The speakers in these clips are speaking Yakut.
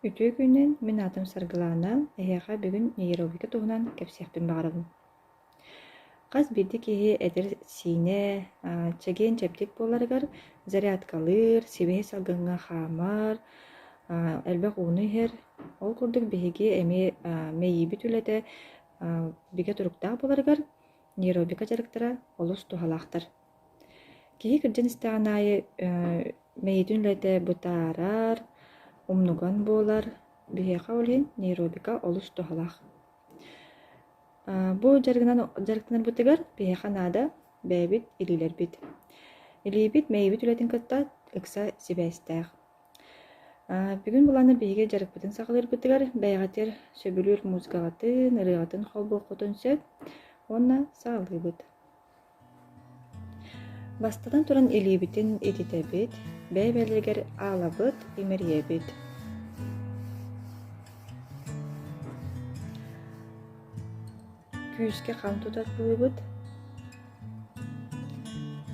Үтүө күнүнэн мин аатым Саргылаана, эһиэхэ бүгүн нейрология туһунан кэпсиэхпин баҕарабын. Хас биирдии киһи эдэр-сиинэ, аа, чэгиэн-чэбдик буоларыгар зарядкалыыр, сибиһи салгыҥҥа хаамар, аа, элбэх ууну иһэр. Ол курдук биһиги эмиэ аа, мэйиибит үлэтэ аа, бигэ туруктаах буоларыгар нейробика дьарыктара олус туһалаахтар. Киһи кырдьан истэҕин аайы мэйиитин үлэтэ бытаарар, умнуган буолар. Биһиэхэ ол иһин нейробика олус туһалаах. Бу дьарыгынан дьарыктанарбытыгар биһиэхэ наада бэйэбит илиилэрбит. Илиибит мэйиибит үлэтин кытта ыкса сибээстээх. бүгүн былаана биһиги дьарыкпытын саҕалыырбытыгар бэйэҕитигэр сөбүлүүр музыкаҕытын, ырыаҕытын холбуоххутун сөп уонна саҕалыыбыт. Бастатан туран илиибитин ититэбит, бэйэ-бэйэлэригэр аалабыт, имэрийэбит. Күүскэ хам тутар кылыбыт.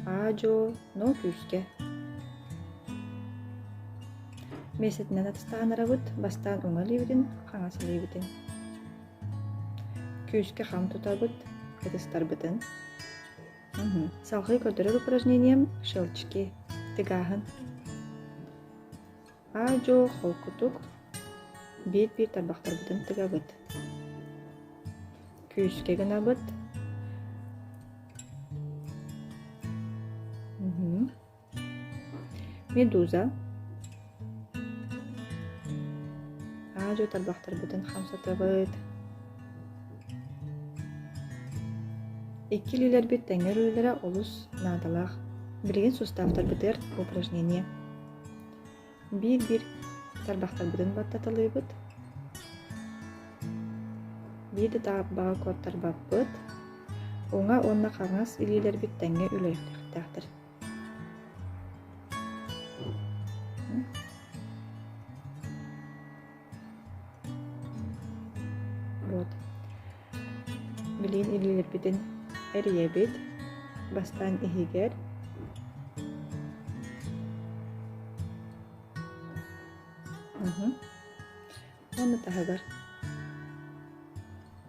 Аа-дьуо, ноо күүскэ. Миэстэтинэн атастаанарабыт, бастаан уҥа илиибитин, хаҥас илиибитин. күүскэ хам тутабыт ытыстарбытын салгыы көрдөрөр упражнением щелчки тыгаһын аа-дьуо холкутук биир-биир тарбахтарбытын тыгабыт күүскэ гынабыт Медуза аа-дьуо тарбахтарбытын хамсатабыт. Икки илиилэрбит тэҥҥэ өрүүлэрэ олус наадалаах. Билигин суставтарбытыгар упражнение. Биир-биир тарбахтарбытын баттаталыыбыт. Биирдэ тааппаҕа куоттарбаппыт. Уҥа уонна хаҥас илиилэрбит тэҥҥэ үлэлиэхтээхтэр. Вот. Билин илилирбитин эрийэбит бастаан иһигэр уһу. уонна таһыгар